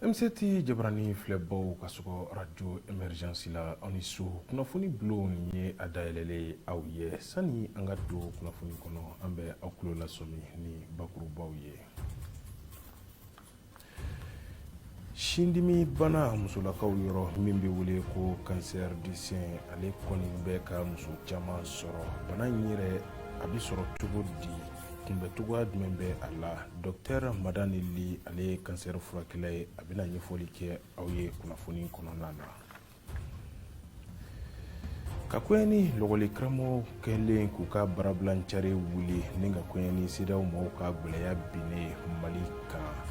M7 jabarani filɛbaw ka sɔgɔ radio Émergence la aw ni su kunnafoni bulon ni ye a dayɛlɛlen aw ye sani an ka don kunnafoni kɔnɔ an bɛ aw tulo lasɔmi ni bakurubaw ye sindimi bana musolakaw yɔrɔ min bɛ wele ko cancer du sein ale kɔni bɛ ka muso caman sɔrɔ bana in yɛrɛ a bɛ sɔrɔ cogo di kunbɛcogoya jumɛn bɛ a la dɔktɛr Madani Ly ale ye kansɛri furakɛla ye a bɛna ɲɛfɔli kɛ aw ye kunnafoni kɔnɔna na ka koɲɛ ni lakɔli karamɔgɔ kɛlen k'u ka baarabilancari wuli ni ka koɲɛ ni CEDEAO mɔgɔw ka gwɛlɛya binnen mali kan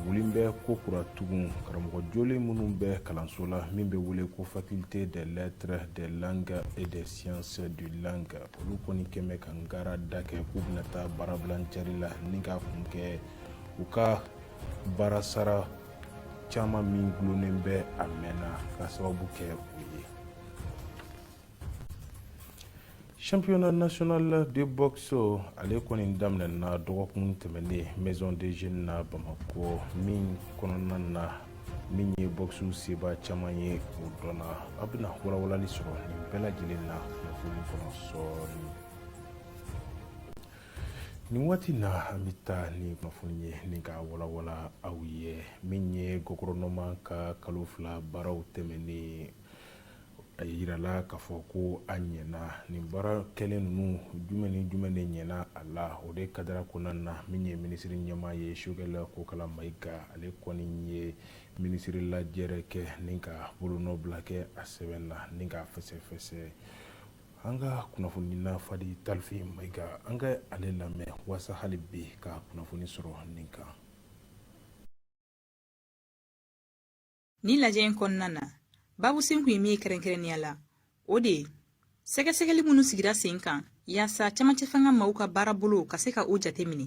wulilen bɛ kokura tugun karamɔgɔ jolen minnu bɛ kalanso la min bɛ wele ko faculté des lettres des langues et des sciences du langue olu kɔni kɛlen bɛ kangarida kɛ k'u bɛna taa baarabilancari la ni k'a kun kɛ u ka baara sara caman min gulonnen bɛ a mɛnna ka sababu kɛ o ye championnat national de boxe ale kɔni daminɛna dɔgɔkun tɛmɛnen Maison des Jeunes na Bamakɔ min kɔnɔna na min ye bɔkisiw seba caman ye o dɔnna a bɛna walawalali sɔrɔ nin bɛɛ lajɛlen na kunnafoni kɔnɔ sɔɔni nin waati na an bɛ taa ni kunnafoni ye ni ka walawala aw ye min ye guvɛrɛnɛman ka kalo fila baaraw tɛmɛnnen a yirala k'a fɔ ko a ɲɛna nin baara kɛlen ninnu jumɛn ni jumɛn de ɲɛna a la o de kadara kɔnɔna na min ye minisiri ɲɛmaa ye Sogɛl Kokala Mayiga ale kɔni ye minisiri lajɛrɛ kɛ ni ka bolonɔbila kɛ a sɛbɛn na ni ka fɛsɛfɛsɛ an ka kunnafonina Fadi Talifi Mayiga an ka ale lamɛn waasa hali bi ka kunnafoni sɔrɔ nin kan Ni lajɛ in kɔnɔna na babu sin kun ye min ye kɛrɛnkɛrɛnnenya la o de ye sɛgɛsɛgɛli minnu sigira sen kan yaasa camancɛ fanga maw ka baarabolo ka se ka o jate minɛ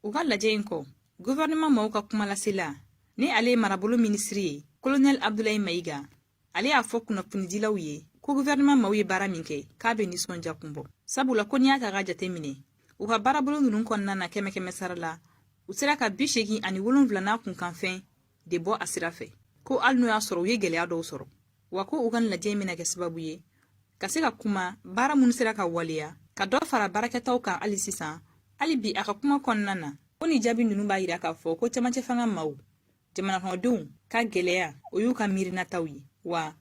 u ka lajɛ in kɔ guvɛrɛnɛman maw ka kumalasela ni ale ye marabolo minisiri ye kolonɛli abdulayi mayiga ale y'a fɔ kunnafonidilaw ye ko guvɛrɛnɛman maw ye baara min kɛ k'a bɛ nisɔndiya kun bɔ sabula ko n'i y'a ta ka jate minɛ u ka baarabolo ninnu kɔnɔna na kɛmɛ kɛmɛ sara la u sera ka bi seegin ani wolonwula n'a kunkanfɛn de bɔ a sira fɛ ko hali n'o y'a sɔrɔ u ye gɛlɛya dɔw sɔrɔ wa ko u ka lajɛ in bɛna kɛ sababu ye ka se ka kuma baara minnu sera ka waleya ka dɔ fara baarakɛtaw kan hali sisan hali bi a ka kuma kɔnɔna na ko ni jaabi ninnu b'a yira k'a fɔ ko camancɛ fanga maw jamanakɔnɔdenw ka gɛlɛya o y'u ka miirinataw ye wa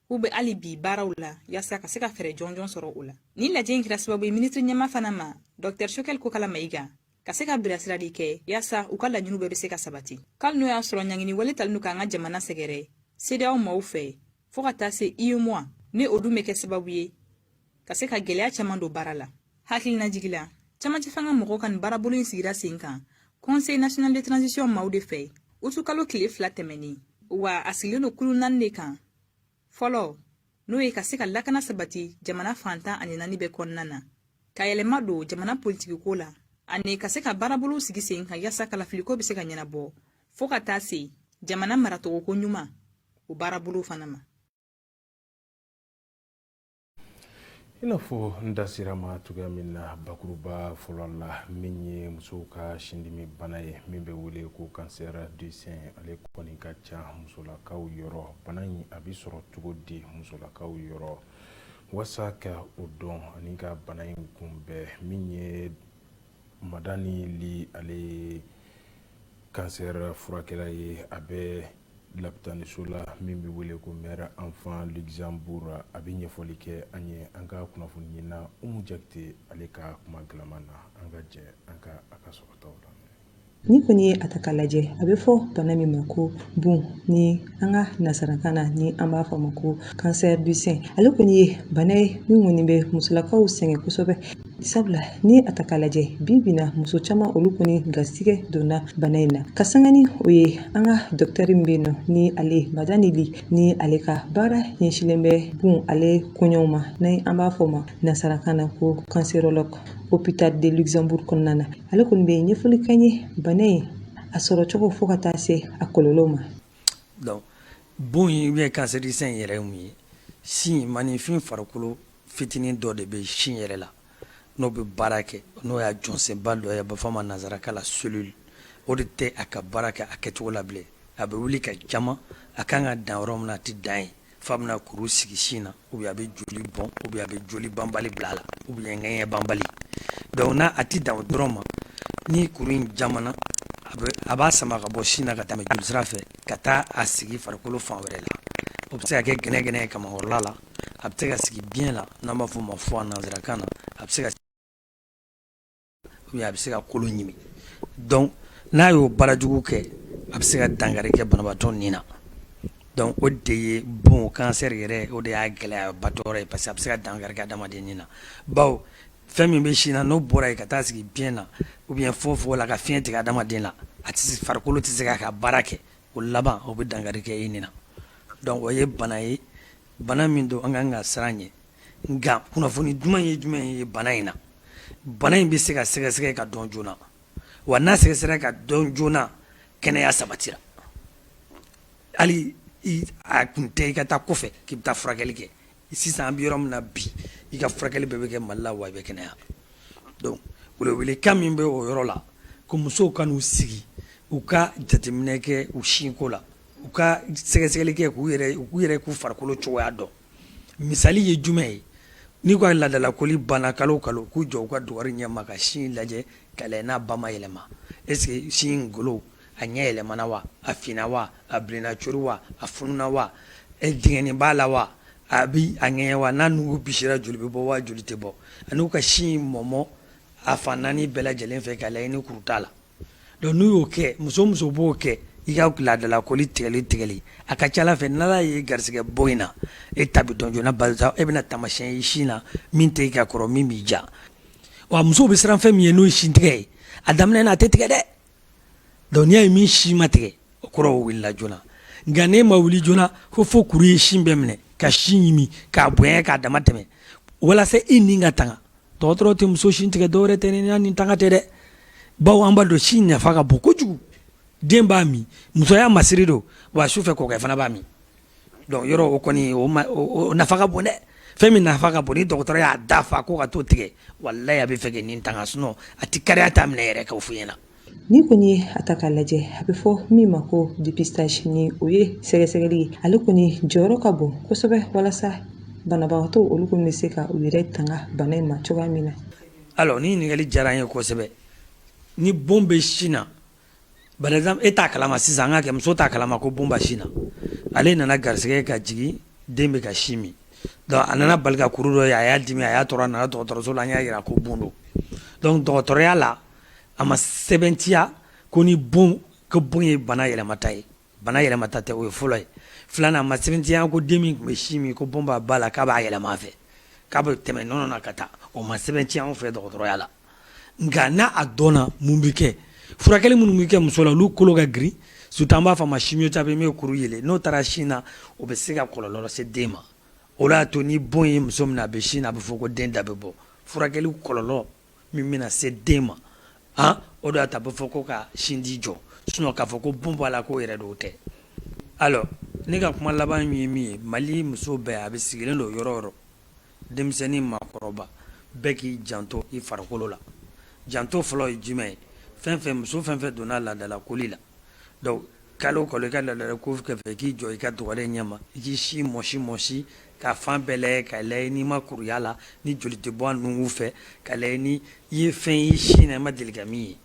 k'u bɛ hali bi baaraw la yaasa ka se ka fɛɛrɛ jɔnjɔn sɔrɔ o la nin lajɛ in kɛra sababu ye minisiri ɲɛmaa fana ma dɔktɛr Sogɛl Kokala Mayiga ka se ka bilasirali kɛ yaasa u ka laɲiniw bɛɛ bɛ se ka sabati kali n'o y'a sɔrɔ ɲangini wale talen don k'an ka jamana sɛgɛrɛ cedeao maaw fɛ fɔɔ ka taa se uemoa ni o dun bɛ kɛ sababu ye ka se ka gwɛlɛya caaman don baara la hakilina jigi la camancɛfanga mɔgɔw ka nin baarabolo in sigira sen kan conseil national de transition maaw de fɛ utukalo kile fila tɛmɛnen wa a sigilen don kulu naani de kan fɔlɔ n'o ye ka se ka lakana sabati jamana fan tan ani naani bɛɛ kɔnɔna na ka yɛlɛma don jamana politikiko la ani ka se ka baarabolow sigi sen kan yaasa kalafiliko bɛ se ka ɲɛnabɔ fɔɔ ka taa se jamana maracogoko ɲuman o baarabolow fana ma i n'a fɔ n da sera ma cogoya min na bakuruba fɔlɔ la min ye musow ka sindimi bana ye min bɛ wele ko cancer du sein ale kɔni ka ca musolakaw yɔrɔ bana in a bɛ sɔrɔ cogo di musolakaw yɔrɔ wasa ka o dɔn ani ka bana in kunbɛn min ye madani li ale ye cancer furakɛla ye a bɛ lapitaniso la min bɛ wele ko mère enfant luxembourg a bɛ ɲɛfɔli kɛ an ye an ka kunnafoni ɲinina umu jakite ale ka kuma galama na an ka jɛ an ka a ka sɔrɔtaw la n'i kɔni ye a ta k'a lajɛ a bɛ fɔ bana min ma ko bon ni an ka nasarakan na ni an b'a fɔ ma ko cancer du sein ale kɔni ye bana ye min kɔni bɛ musolakaw sɛgɛn kosɛbɛ sabula n'i ye a ta k'a lajɛ bi bi in na muso caman olu kɔni garisɛgɛ donna bana in na ka sanga ni o ye an ka dɔkitɛri min bɛ yen nɔ ni ale madani li ni ale ka baara ɲɛsinlen bɛ bon ale koɲɛw ma ni an b'a fɔ o ma nansarakan na ko cancérologue hôpital de luxembourg kɔnɔna na ale kɔni bɛ ɲɛfɔli kɛ an ye bana in a sɔrɔ cogo fo ka taa se a kɔlɔlɔ ma donc bon in ou bien cancer du sein in yɛrɛ ye mun ye sin maaninfin farikolo fitinin dɔ de bɛ sin yɛrɛ la n'o bɛ baara kɛ n'o y'a jɔsenba dɔ ye a bɛ fɔ a ma nanzarakan la cellule o de tɛ a ka baara kɛ a kɛcogo la bilen a bɛ wuli ka jama a kan ka dan yɔrɔ min na a tɛ dan yen f'a bɛna kuru sigi sin na ou bien a bɛ joli bɔn ou bien a bɛ joli banbali bila a la ou bien ŋɛɲɛ banbali donc n'a a tɛ dan o dɔrɔn ma ni kuru in jamana a b'a sama ka bɔ sin na ka tɛmɛ jolisira fɛ ka taa a sigi farikolo fan wɛrɛ la o bɛ se ka kɛ gɛnɛgɛnɛ ye kamakɔrɔla la a bɛ se ka sigi biyɛn na n'an b'a f'o ma foie nanzarakan na a bɛ se ka ou bien a bɛ se ka kolo ɲimi donc n'a y'o baarajugu kɛ a bɛ se ka dankari kɛ banabaatɔ ni na donc o de ye bon cancer yɛrɛ o de y'a gɛlɛyabatɔ yɔrɔ ye parce que a bɛ se ka dankari kɛ adamaden ni na bawo fɛn min bɛ sin na n'o bɔra yen ka taa sigi biyɛn na ou bien fogofogo la ka fiɲɛ tigɛ adamaden na a tɛ se farikolo tɛ se k'a ka baara kɛ O laban o bɛ dankari kɛ i ni na donc o ye bana ye bana min don an ka kan ka siran ɲɛ nka kunnafoni duman ye jumɛn ye bana in na bana in bɛ se ka sɛgɛsɛgɛ ka dɔn joona wa n'a sɛgɛsɛgɛ ka dɔn joona kɛnɛya sabatira hali a kun tɛ i ka taa kɔfɛ k'i bɛ taa furakɛli kɛ Sisan an bɛ yɔrɔ min na bi i ka furakɛli bɛɛ bɛ kɛ Mali la wa i bɛ kɛnɛya donc welewelekan min bɛ o yɔrɔ la ko musow ka n'u sigi u ka jateminɛ kɛ u sinko la u ka sɛgɛsɛgɛli kɛ k'u yɛrɛ k'u farikolo cogoya dɔn misali ye jumɛn ye n'u ka laadalakoli banna kalo o kalo k'u jɔ u ka dugari ɲɛma ka sin lajɛ ka lajɛ n'a ba ma yɛlɛma est ce que sin in golo a ɲɛ yɛlɛmana wa a finna wa a bilenna cori wa a fununa wa dingɛnin b'a la wa a bɛ a ŋɛɲɛ wa n'a nugu bisira joli bɛ bɔ wa joli tɛ bɔ ani u ka sin mɔmɔ a fan naani bɛɛ lajɛlen fɛ ka lajɛ ni kuru t'a la donc n'u y'o kɛ muso o muso b'o kɛ i ka laadalakoli tigɛli tigɛli a ka ca Ala fɛ n'Ala y'i garisɛgɛ bon in na e ta bɛ dɔn joona barisa e bɛna taamasiyɛn ye sin na min tɛ i ka kɔrɔ min b'i ja wa musow bɛ siran fɛn min ɲɛ n'o ye sin tigɛ ye a daminɛ na a tɛ tigɛ dɛ Donc n'i y'a ye min sin ma tigɛ o kɔrɔ o wulila joona nka n'e ma wuli joona ko fo kuru ye sin bɛɛ minɛ ka sin ɲimi k'a bonya k'a dama tɛmɛ walasa i ni ka tanga dɔgɔtɔrɔ tɛ muso sin tigɛ dɔwɛrɛ tɛ ni ni tanga tɛ dɛ bawo an b'a dɔn sin nafa ka bon kojugu den b'a min musoya masiri don wa su fɛ kɔkɛ fana b'a min Donc yɔrɔ o kɔni o nafa ka bon dɛ fɛn min nafa ka bon ni dɔgɔtɔrɔ y'a da fa ko ka t'o tigɛ walayi a bɛ fɛ k'i ni tanga sinon a tɛ kariya t'a minɛ yɛrɛ k'o fɔ i ɲɛ na ni kɔni ye a ta k'a lajɛ a bɛ fɔ min ma ko dépistage ni o ye sɛgɛsɛgɛli ye ale kɔni jɔyɔrɔ ka bon kosɛbɛ walasa banabagatɔ olu kɔni bɛ se ka u yɛrɛ tanga bana in ma cogoya min na alors nin ɲininkali diyara an ye kosɛbɛ ni bon bɛ sin na Par exemple e t'a kalama sisan an k'a kɛ muso t'a kalama ko bon b'a sin na, ale nana garisigɛ ka jigin den bɛ ka sin min donc a nana bali ka kuru dɔ ye a y'a dimi a y'a tɔɔrɔ a nana dɔgɔtɔrɔso la an y'a yira ko bon don donc dɔgɔtɔrɔya la a ma sɛbɛntiya ko ni bon ko bon ye bana yɛlɛmata ye Bana yɛlɛmata tɛ o ye fɔlɔ ye filanan a ma sɛbɛntiya ko den min tun bɛ sin min ko bon b'a ba la k'a b'a yɛlɛma a fɛ k'a bɛ tɛmɛ nɔnɔ na ka taa o ma sɛbɛntiya anw fɛ dɔgɔtɔrɔya la nka n'a a dɔnna mun bɛ kɛ furakɛli minnu bɛ kɛ muso la olu kolo ka girin surtout an b'a fɔ a ma chimiothérapie min bɛ kuru yeelen n'o taara sin na o bɛ se ka kɔlɔlɔ lase den ma o de y'a to ni bon ye muso minɛ a bɛ sin na a bɛ fɔ ko den da bɛ bɔ furakɛli kɔlɔlɔ min bɛna se den ma aa o de y'a to a bɛ fɔ ko ka sinji jɔ sinon k'a fɔ ko bon b'a la k'o yɛrɛ don o tɛ alors ne ka kuma laban min ye min ye Mali muso bɛɛ a bɛ sigilen don yɔrɔ o yɔrɔ denmisɛnnin maakɔrɔba bɛɛ k'i janto i farikolo la janto fɔlɔ ye jumɛn ye fɛn o fɛn muso fɛn o fɛn donna laadalakoli la Donc kalo o kalo i ka laadala ko kɔfɛ i k'i jɔ i ka dugalen ɲɛ ma i k'i sin mɔsi mɔsi ka fan bɛɛ lajɛ ka lajɛ n'i ma kuru y'a la ni joli tɛ bɔ a nunkun fɛ ka lajɛ ni i ye fɛn ye i sin na i ma deli ka min ye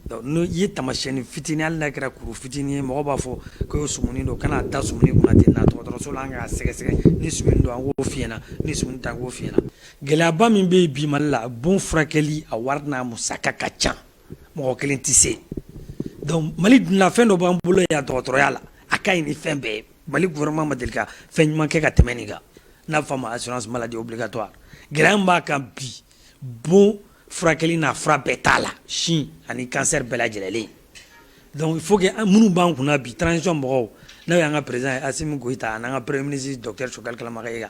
donc n'o i ye taamasiyɛnni fitini hali n'a kɛra kuru fitini ye mɔgɔw b'a fɔ ko e sumuni don kana da sumuni kunna ten na dɔgɔtɔrɔso la an k'a sɛgɛsɛgɛ ni sumuni don an k'o f'i ɲɛna ni sumuni tɛ an k'o f'i ɲɛna gɛlɛyaba min bɛ yen bi Mali la bon furakɛli a wari n'a musaka ka ca mɔgɔ kelen tɛ se donc Mali dunna fɛn dɔ b'an bolo yan dɔgɔtɔrɔya la a ka ɲi ni fɛn bɛɛ ye Mali gouvernement ma deli ka fɛn ɲuman kɛ ka tɛmɛ nin kan n'a bɛ fɔ a ma assurance maladie obligatoire gɛlɛya min b'a kan bi bon furakɛli n'a fura bɛɛ t'a la sin ani cancer bɛɛ lajɛlen donc il faut que minnu b'an kunna bi transition mɔgɔw n'o y'an ka président ye Assimi Goïta an'an ka premier ministre docteur Choguel Kokalla Maïga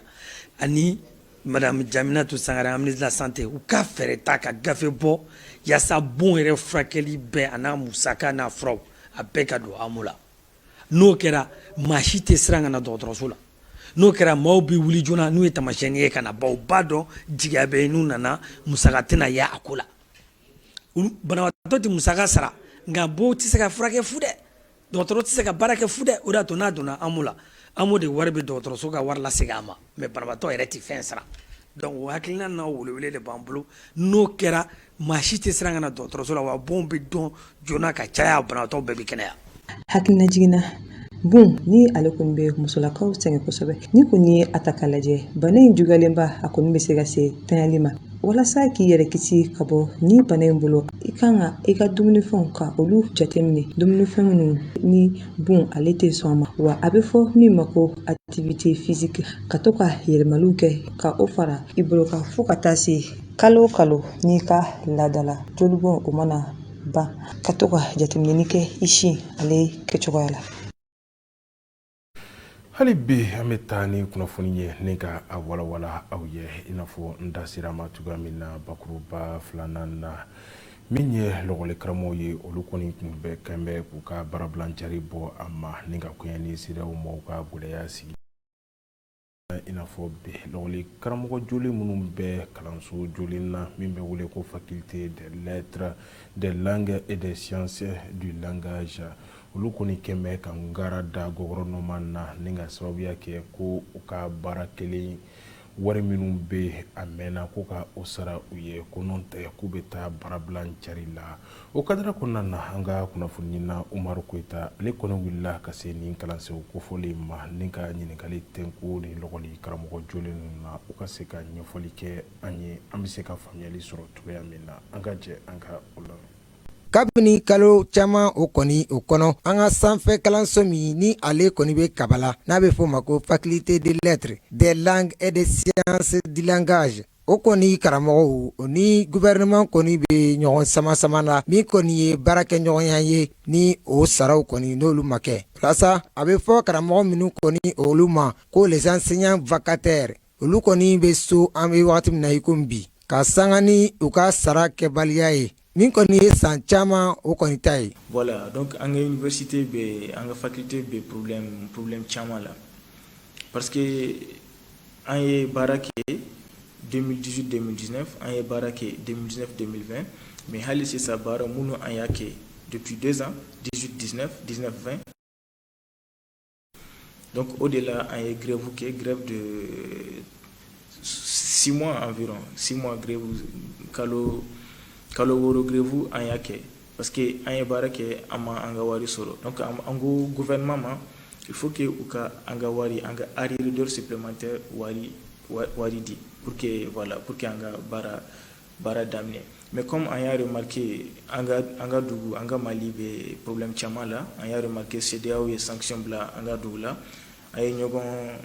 ani Jaminatu Sangare ministre de la santé u ka fɛɛrɛ ta ka gafe bɔ yaasa bon yɛrɛ furakɛli bɛɛ a n'a musaka n'a fura a bɛɛ ka don AMO la n'o kɛra maa si tɛ siran ka na dɔgɔtɔrɔso la n'o kɛra maaw bɛ wuli joona n'u ye taamasiyɛnni ye ka na baw b'a dɔn jigiya bɛ n'u nana musaka tɛna ye a ko la banabaatɔ tɛ musaka sara nka bon tɛ se ka furakɛ fu dɛ Dɔgɔtɔrɔ tɛ se ka baara kɛ fu dɛ o d'a to n'a donna AMO la AMO de wari bɛ dɔgɔtɔrɔso ka wari lasegin a ma mais banabatɔ yɛrɛ tɛ fɛn sara donc o hakilina n'a welewele de b'an bolo n'o kɛra maa si tɛ siran ka na dɔgɔtɔrɔso la wa bon bɛ dɔn joona ka caya banabatɔ bɛɛ bɛ kɛnɛya hakilinajigin na bon nin ale kɔni bɛ musolakaw sɛgɛn kosɛbɛ n'i kɔni ye a ta k'a lajɛ bana in juguyalenba a kɔni bɛ se ka se tli ma walasa k'i yɛrɛ kisi ka bɔ nin bana in bolo i kan ka i ka dumunifɛnw ka olu jateminɛ dumunifɛn minnu ni bon ale tɛ sɔn a ma wa a bɛ fɔ min ma ko activité physique ka to ka yɛlɛmaliw kɛ ka o fara i bolo kan fo ka taa se kalo o kalo n'i ka laadala jolibɔn o mana ban ka to ka jateminɛni kɛ i sin ale kɛcogoya la hali bi an bɛ taa ni kunnafoni ye ni ka a walawala aw ye i n'a fɔ n da sera a ma cogoya min na bakuruba filanan na min ye lɔgɔlikaramɔgɔw ye olu kɔni tun bɛ quand même k'u ka baarabila cari bɔ a ma ni ka kɛɲɛ ni siraw mɔgɔw ka gɛlɛya sigi I n'a fɔ bɛɛlɛ karamɔgɔ joli minnu bɛ kalanso joli na min bɛ wele ko fatite deta dɛkɛ e de sisɛdz olu kɔni kɛmɛ bɛ ka ga da gɔɔrɔnɔma na ni ka sababuya kɛ ko u ka baara kelen wari minnu bɛ a mɛnna ko ka o sara u ye ko tɛ k'u bɛ taa baarabila cari la o kadara kɔnɔna na an ka kunnafoninina umaru koyita ale kɔni wulila ka se nin kalansow kofɔlen ma ni ka ɲininkali tɛko ni lɔli karamɔgɔ jɔlen ninnu na u ka se ka ɲɛfɔli kɛ an ye an bɛ se ka faamuyali sɔrɔ cogoya min na an ka jɛ an ka o la kabini kalo caman o kɔni o kɔnɔ an ka sanfɛ kalanso min ni ale kɔni bɛ kabala n'a bɛ f'o ma ko faculté des lettres des langues et des sciences du langage O kɔni karamɔgɔw o ni gouvernement kɔni bɛ ɲɔgɔn sama sama na min kɔni ye baarakɛɲɔgɔnya ye ni o saraw kɔni n'olu ma kɛ walasa a bɛ fɔ karamɔgɔ minnu kɔni olu ma ko les enseignants vacataires olu kɔni bɛ so an bɛ wagati min na i komi bi ka sanga ni u ka sara kɛbaliya ye Nin kɔni ye san caman o kɔni ta ye wala dɔn an kate bɛ an ka fate bɛ poroorobi caman la pa an ye baara kɛ denmisɛnninsi denmisɛnnin an ye baara kɛ denmisɛn denmisɛnninfɛn mɛ hali sisan baara minnu an y'a kɛ donsod diinɛ diinɛ fɛn Donc au-delà, an ye grève kɛ grève de 6 mois environ. 6 mois grève, kalo, kalo wɔɔrɔ grève an y'a kɛ. Parce que an ye baara kɛ an ma an ka wari sɔrɔ. Donc an ko gouvernement ma, il faut que u ka an ka wari, an ka arriéré d'heure supplémentaire wari, wari di pour que voilà, pour que an ka baara baara daminɛ mais comme an y'a remarqué an ka dugu an ka Mali bɛ problème caman la an y'a remarqué CEDEAO ye sanction bila an ka dugu la an ye ɲɔgɔn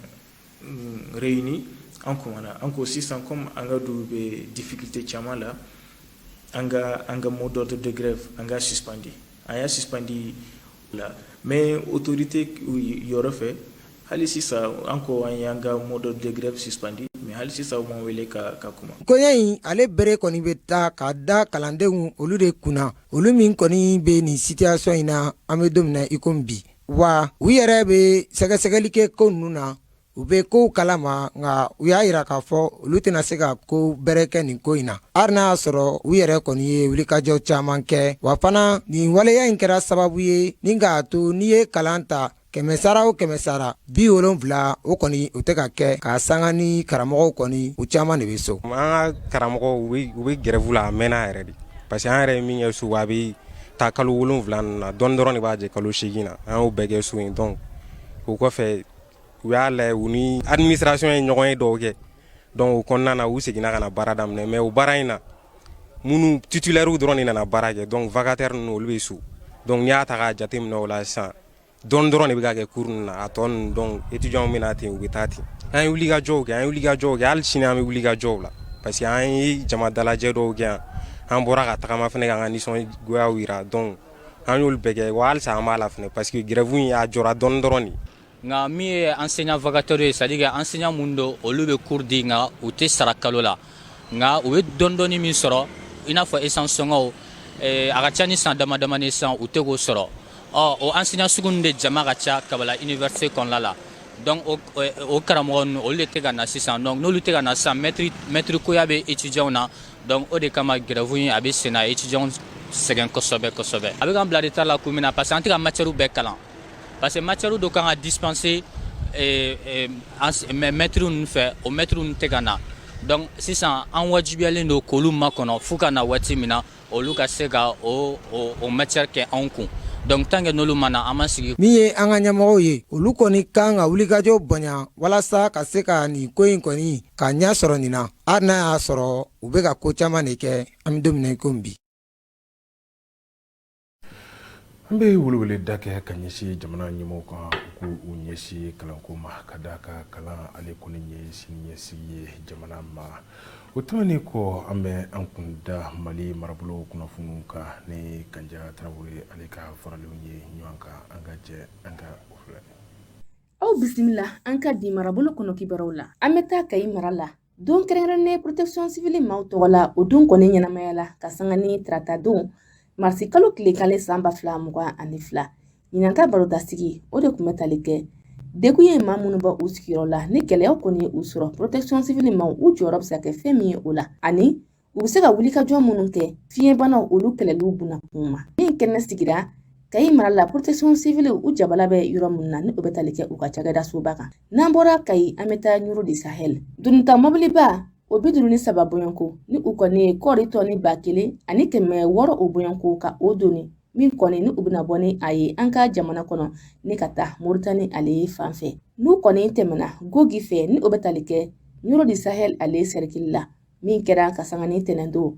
mm, réuni an kumana an ko sisan comme an ka dugu bɛ difficulté caman la an ka an ka mot d'ordre de grève an k'a suspandi An y'a suspandi o la mais autorité yɔrɔ fɛ hali sisan an ko an y'an ka mot d'ordre de grève suspandi mais hali sisan u m'an wele ka kuma. Koɲɛ in ale bɛrɛ kɔni bɛ taa ka da kalandenw olu de kunna, olu min kɔni bɛ nin situation in na an bɛ don min na i komi bi, wa u yɛrɛ bɛ sɛgɛsɛgɛli kɛ ko ninnu na u bɛ kow kalama nka u y'a yira k'a fɔ olu tɛna se ka ko bɛrɛ kɛ nin ko in na hali n'a y'a sɔrɔ u yɛrɛ kɔni ye wulikajɔ caman kɛ wa fana nin waleya in kɛra sababu ye ni k'a to n'i ye kalan ta kɛmɛsara o kɛmɛsara bi wolonfila o kɔni u tɛ ka kɛ ka sanga ni karamɔgɔw kɔni u caman de bɛ so an ka karamɔgɔw u bɛ grève la a mɛnna yɛrɛ de parce que an yɛrɛ ye min kɛ so a bɛ taa kalo wolonwula na dɔɔni dɔrɔn de b'a jɛ kalo segin na an y'o bɛɛ kɛ so in donc o kɔfɛ u y'a lajɛ u ni administration ye ɲɔgɔn ye dɔw kɛ donc o kɔnɔna na u seginna ka na baara daminɛ mais o baara in na minnu titulaires dɔrɔn de nana baara kɛ donc vacataires ninnu olu bɛ so donc n'i y'a ta k'a jateminɛ o la sisan dɔɔni dɔrɔn de bɛ ka kɛ cours ninnu na a tɔ ninnu donc étudiants bɛ na ten u bɛ taa ten an ye wulikajɔw kɛ an ye wulikajɔw kɛ hali sini an bɛ wulikajɔw la parce que an ye jama dalajɛ dɔw kɛ yan an bɔra ka tagama fana k'an ka nisɔngoyaw jira donc an y'olu bɛɛ kɛ wa halisa an b'a la fana parce que grève in a jɔra dɔɔni dɔrɔn de nka min ye enseignant vacataire ye c'est-à-dire que enseignant minnu don olu bɛ cours di nka u tɛ sara kalo la nka u bɛ dɔɔni dɔɔni min sɔrɔ i n'a fɔ essence sɔngɔw a ka ca ni san dama dama ni san u tɛ k'o sɔrɔ ɔ o enseignant sugu ninnu de jama ka ca kabala université kɔnɔna la donc o karamɔgɔ ninnu olu de tɛ ka na sisan donc n'olu tɛ ka na sisan mɛtiri koya bɛ étudiants na donc o de kama grève in a bɛ sen na étudiants sɛgɛn kosɛbɛ kosɛbɛ a bɛ k'an bila retard la kun min na parce que an tɛ ka matière bɛɛ kalan Parce que matière dɔ kan ka dispenser eh, eh, ans- mɛ- mɛtiri ninnu fɛ o mɛtiri ninnu tɛ ka na donc sisan an wajibiyalen don k'olu makɔnɔ fo ka na waati min na olu ka se ka o o o matière kɛ anw kun donc tant que n'olu ma na an ma sigi min ye an ka ɲɛmɔgɔw ye olu kɔni kan ka wulikajɔ bonya walasa ka se ka nin ko in kɔni ka ɲɛ sɔrɔ nin na hali n'a y'a sɔrɔ u bɛ ka ko caman de kɛ an bɛ don min na i komi bi An bɛ weleweleda kɛ ka ɲɛsin jamana ɲɛmɔgɔw kan ko u ɲɛsin kalanko ma ka da ka kalan ale kɔni ye siniɲɛsigi ye jamana ma o tɛmɛnen kɔ an bɛ an kun da mali marabolo kunnafoniw kan ni kanja tarawele ale ka faralenw ye ɲɔgɔn kan an ka jɛ an ka o filɛ aw bisimila an ka di marabolo kɔnɔ kibaruw la an bɛ taa kayi mara la don kɛrɛnkɛrɛnnen protection civile maaw tɔgɔ la o don kɔni ɲɛnamayala ka sanga ni tarata don marisi kalo tile kelen san ba fila mugan ani fila ɲinan ka barodasigi o de kun bɛ tali kɛ degun ye maa minnu bɔ u sigiyɔrɔ la ni gɛlɛyaw kɔni ye u sɔrɔ protection civile maaw u jɔyɔrɔ bɛ se ka kɛ fɛn min ye o la ani U bɛ se ka wulikajɔ minnu kɛ fiɲɛbanaw olu kɛlɛliw buna kun ma min kɛnɛ sigira kayi mara la protection civile u jabala bɛ yɔrɔ minnu na ni o bɛ tali kɛ u ka cakɛda soba kan n'an bɔra kayi an bɛ taa ɲɔrɔ du sahel donita mobiliba o bi duuru ni saba bɔɲɔgɔnko ni u kɔni ye kɔɔri tɔni ba kelen ani kɛmɛ wɔɔrɔ o bɔɲɔgɔnko ka o doni min kɔni ni u bɛna bɔ ni a ye an ka jamana kɔnɔ ni ka taa moritani ale ye fan fɛ n'u kɔni tɛmɛna gogi fɛ ni o bɛ tali kɛ ɲɔrɔ du sahel ale sɛrikili la min kɛra ka sanga ni tɛnɛndon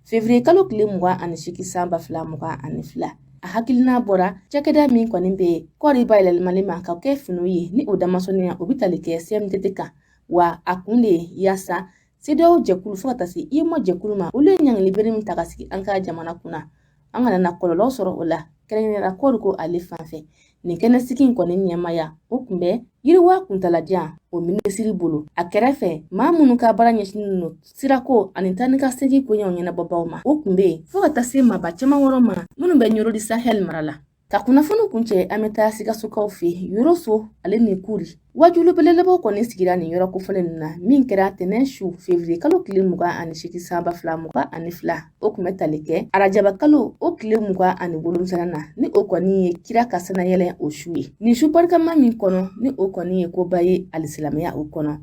février kalo tile mugan ani seegin san ba fila mugan ani fila a hakilina bɔra cakɛda min kɔni bɛ kɔɔri bayɛlɛmali ma ka kɛ finiw ye ni o damasɔnniya o bɛ tali kɛ CMDT kan wa a kun de yaasa CEDEAO jɛkulu fo ka taa se UEMOA jɛkulu ma olu ye ɲangili bere min ta ka sigi an ka jamana kunna an kana na kɔlɔlɔ sɔrɔ o la kɛrɛnkɛrɛnnenya la kɔɔri ko ale fanfɛ nin kɛnɛsigi in kɔni ɲɛmaaya o kun bɛ yiriwa kuntalajan o minisiri bolo a kɛrɛfɛ maa minnu ka baara ɲɛsinnen don sirako ani taa ni ka segi koɲɛw ɲɛnabɔbaw ma o kun bɛ yen fɔɔ ka taa se maaba caman wɛrɛ ma minnu bɛ nioro du sahel mara la Ka kunnafoni kuncɛ an bɛ taa sikasokaw fɛ yoroso ale ni kuri waajuli belebelebaw kɔni sigira nin yɔrɔ kofɔlen ninnu na min kɛra tɛnɛn su fevriye kalo tile mugan ani seegin san ba fila mugan ani fila o kun bɛ tali kɛ arajaba kalo o tile mugan ani wolonwula na ni o kɔni ye kira ka sanayɛlɛ o su ye nin su barikama min kɔnɔ ni o kɔni ye koba ye alisilamɛya o kɔnɔ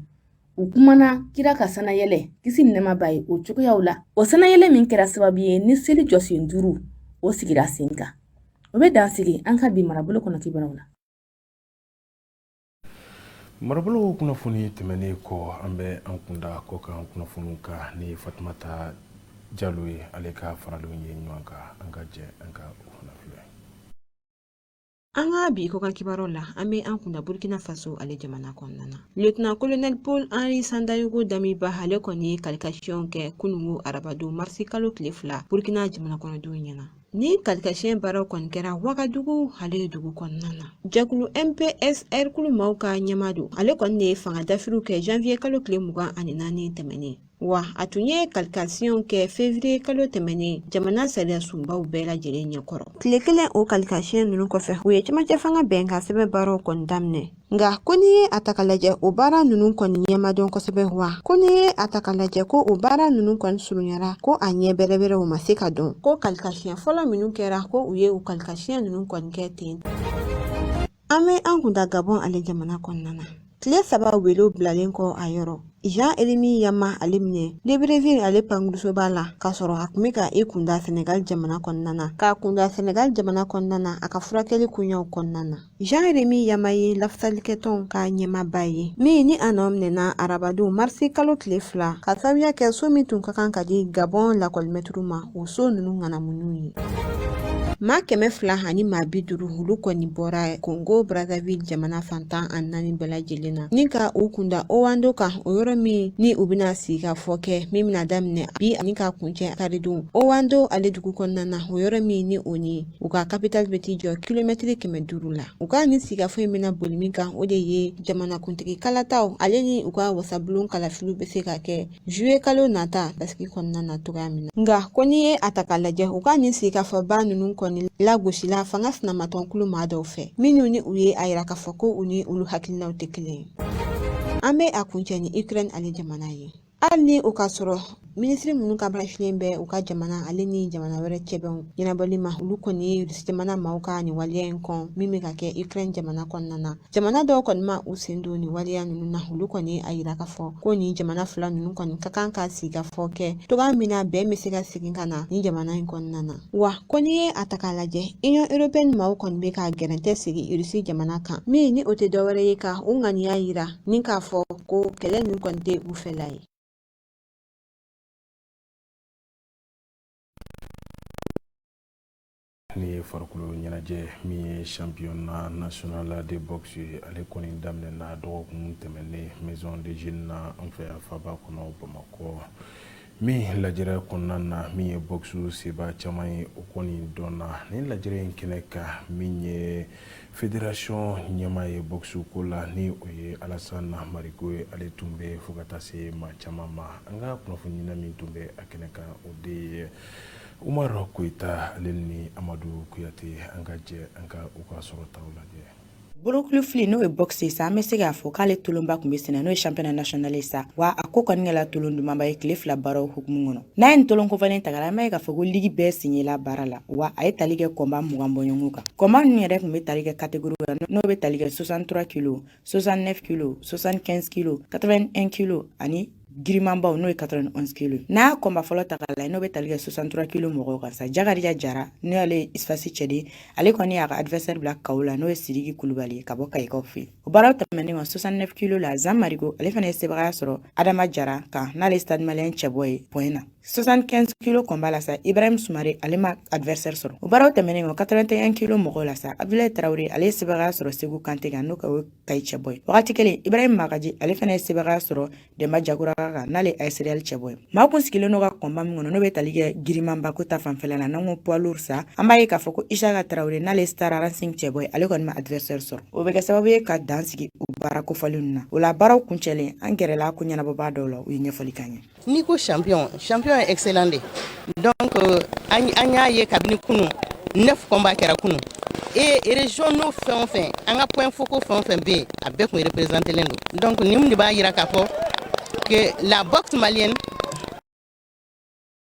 u kumana kira ka sanayɛlɛ kisi ni nɛɛma b'a ye o cogoyaw la o sanayɛlɛ min kɛra sababu ye ni seli jɔsen duuru o sigira sen kan o bɛ dan sigi an ka bi marabolo kɔnɔ kibaruyaw la marabolo kunnafoni tɛmɛnen kɔ an bɛ an kunda kɔkan kunnafoniw kan ni fatumata jalo ye ale ka faralenw ye ɲɔgɔn kan an ka jɛ an ka o fana filɛ An ka bi kɔkan kibaruw la an bɛ an kunda burkina faso ale jamana kɔnɔna na lieutenant colonel paul henri sandaogo damiba ale kɔni ye kalikasiyɛn kɛ kununko arabadon marisi kalo tile fila burkina jamana kɔnɔdenw ɲɛna ni kalikasiyɛn baaraw kɔni kɛra wagadugu ale dugu kɔnɔna na jɛkulu mpsr kulu maaw ka ɲɛmaa don ale kɔni de ye fanga dafiriw kɛ janvier kalo tile mugan ani naani tɛmɛnen wa a tun ye kalikasiɲɛw kɛ fevriye kalo tɛmɛnen jamana sariya sunbaw bɛɛ lajɛlen ɲɛkɔrɔ tile kelen o kalikasiɲɛ ninnu kɔfɛ u ye cɛmancɛ fanga bɛnkansɛbɛn baaraw kɔni daminɛ nka ko n'i ye a ta ka lajɛ o baara ninnu kɔni ɲɛ ma dɔn kosɛbɛ wa ko n'i ye a ta ka lajɛ ko o baara ninnu kɔni surunyara ko a ɲɛ bɛrɛbɛrɛ o ma se ka dɔn ko kalikasiɲɛ fɔlɔ minnu kɛra ko u ye u kalikasiɲɛ ninnu kɔni kɛ ten An bɛ an kun da Gabon ale jamana kɔnɔna na tile saba welew bilalen kɔ a yɔrɔ Jean Rémy Yama ale minɛna Libreville ale pankurunsoba la ka sɔrɔ a kun bɛ ka i kunda Senegal jamana kɔnɔna na k'a kunda Senegal jamana kɔnɔna na a ka furakɛli koɲɛw kɔnɔna na Jean Rémy Yama ye lafasalikɛtɔnw ka ɲɛmaaba ye min ni a nɔ minɛna arabadon marisi kalo tile fila ka sababuya kɛ so min tun ka kan ka di Gabon lakɔlimɛtiriw ma o so ninnu ŋanamuniw ye maa kɛmɛ fila ani maa bi duuru olu kɔni bɔra kongo brazzaville jamana fan tan ani naani bɛɛ lajɛlen na ni ka u kunda owando kan o yɔrɔ min ni u bɛna sigikafɔ kɛ min bɛna daminɛ bi ani ka kuncɛ karidon owando ale dugu kɔnɔna na o yɔrɔ min ni o ni u ka kapital bɛ t'i jɔ kilomɛtiri kɛmɛ duuru la u ka nin sigikafɔ in bɛna boli min kan o de ye jamanakuntigi kalataw ale ni u ka wasabulon kalafiliw bɛ se ka kɛ zuye kalo nata basigi kɔnɔna na cogoya min na nka ko n'i ye a ta k'a lajɛ u ka nin sigikafɔba ninnu kɔni lagosila fanga sinamatɔn kulu maa dɔw fɛ minnu ni u ye a yira k'a fɔ ko u ni olu hakilinaw tɛ kelen ye an bɛ a kuncɛ ni ukraine ale jamana ye hali ni o ka sɔrɔ minisiri minnu ka baara sinnen bɛ u ka jamana ale ni jamana wɛrɛ cɛ bɛnw ɲɛnabɔli ma olu kɔni ye irisi jamana maaw ka nin waleya in kɔn min bɛ ka kɛ ukraine jamana kɔnɔna na Jamana dɔw kɔni ma u sen don nin waleya ninnu na olu kɔni ye a yira k'a fɔ ko nin jamana fila ninnu kɔni ka kan ka sigikafɔ kɛ cogoya min na bɛn bɛ se ka segin ka na nin jamana in kɔnɔna na wa ko n'i ye a ta k'a lajɛ union européenne maaw kɔni bɛ ka gɛrɛntɛ sigi irisi jamana kan min ni o tɛ dɔwɛrɛ ye ka u ŋaniya yira ni k'a fɔ ko kɛlɛ ninnu kɔni tɛ u fɛla ye Ni ye farikolo ɲɛnajɛ min ye championnat national la de boxe ye ale kɔni daminɛna dɔgɔkun tɛmɛnen maison des jeunes na an fɛ yan faba kɔnɔ bamakɔ min lajɛrɛ kɔnɔna na min ye boxe sebaa caman ye o kɔni donna nin lajɛrɛ in kɛnɛ kan min ye fédération ɲɛmaa ye boxe ko la ni o ye alasana mariko ye ale tun bɛ fo ka taa se maa caman ma an ka kunnafoniɲinina min tun bɛ a kɛnɛ kan o de ye Umaru Koyita ale ni Amadu Kuyate an ka jɛ an ka u ka sɔrɔtaw lajɛ. Bolokulufili n'o ye boxe ye sa an bɛ se k'a fɔ k'ale tolonba tun bɛ sen na n'o ye championnat national ye sa wa a ko kɔni kɛla tolon dumanba ye tile fila baaraw hukumu kɔnɔ n'a ye nin tolon kofɔlen ta k'a lajɛ an b'a ye k'a fɔ ko ligi bɛɛ sen yela baara la wa a ye tali kɛ combat mugan bɔɲɔgɔnko kan combat ninnu yɛrɛ tun bɛ tali kɛ catégorie la n'o bɛ tali kɛ 63 kilos 69 kilos 75 kilos 81 kilos ani girimanbaw n'o ye 91 kilo n'a y'a combat fɔlɔ ta k'a lajɛ n'o bɛ tali kɛ 63 kilo mɔgɔw kan sa jakarija jara n'o y'ale ye USFAS cɛden ale kɔni y'a ka adversaire bila KO la n'o ye sidiki kulubali ye ka bɔ kayikaw fɛ o baaraw tɛmɛnen kɔ 69 kilo la zan mariko ale fana ye sebagaya sɔrɔ adama jara kan n'ale ye stade malien cɛbɔ ye point na 75 kilo combat la sa ibrahim sumare ale ma adversaire sɔrɔ o baaraw tɛmɛnen kɔ 81 kilo mɔgɔw la sa abdulayi tarawele ale ye sebagaya sɔrɔ seku kante kan n'o ka kayi cɛbɔ ye wagati kelen ibrahim magaji ale fana ye sebagaya sɔrɔ denba jakura kan n'ale AS Réal cɛbɔ ye maa kun sigilen n'o ka combat min kɔnɔ n'o bɛ tali kɛ girinmanba ko ta fanfɛla la n'an ko poids lourd sa an b'a ye k'a fɔ ko isaka tarawele n'ale star racing cɛbɔ ye ale kɔni ma adversaire sɔrɔ o bɛ kɛ sababu ye ka dan sigi u baara kofɔlenw na o la baaraw kuncɛlen an gɛrɛla ko ɲɛnabɔbaa dɔw la u ye ɲɛfɔli k'an ye n'i ko champion champion ye excellent de donc euh, an y'a ye kabini kunu neuf combat kɛra kunu et région n'o fɛn o fɛn an ka point focaux fɛn o fɛn bɛ yen a bɛɛ kun représenté len don donc nin de b'a yira k'a fɔ que la boxe malienne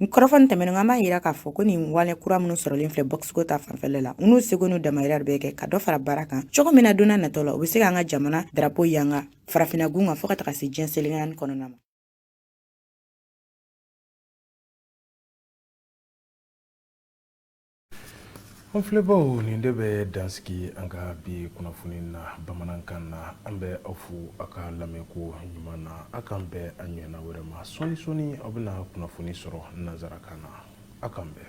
Nin kɔrɔfɔ nin tɛmɛnen an b'a jira k'a fɔ ko nin wale kura minnu sɔrɔlen filɛ bɔkisiko ta fanfɛla la n'u seko n'u damajira bɛɛ kɛ ka dɔ fara baara kan cogo min na don nataw la u bɛ se k'an ka jamana darapo yanga farafinna gun kan fo ka taga se diɲɛ seleke naani kɔnɔna ma An filɛbaw nin de bɛ dansigi an ka bi kunnafoni na bamanankan na an bɛ aw fo aw ka lamɛnko ɲuman na aw k'an bɛn a ɲɔgɔnna wɛrɛ ma sɔɔni sɔni aw bɛna kunnafoni sɔrɔ nansarakan na aw k'an bɛn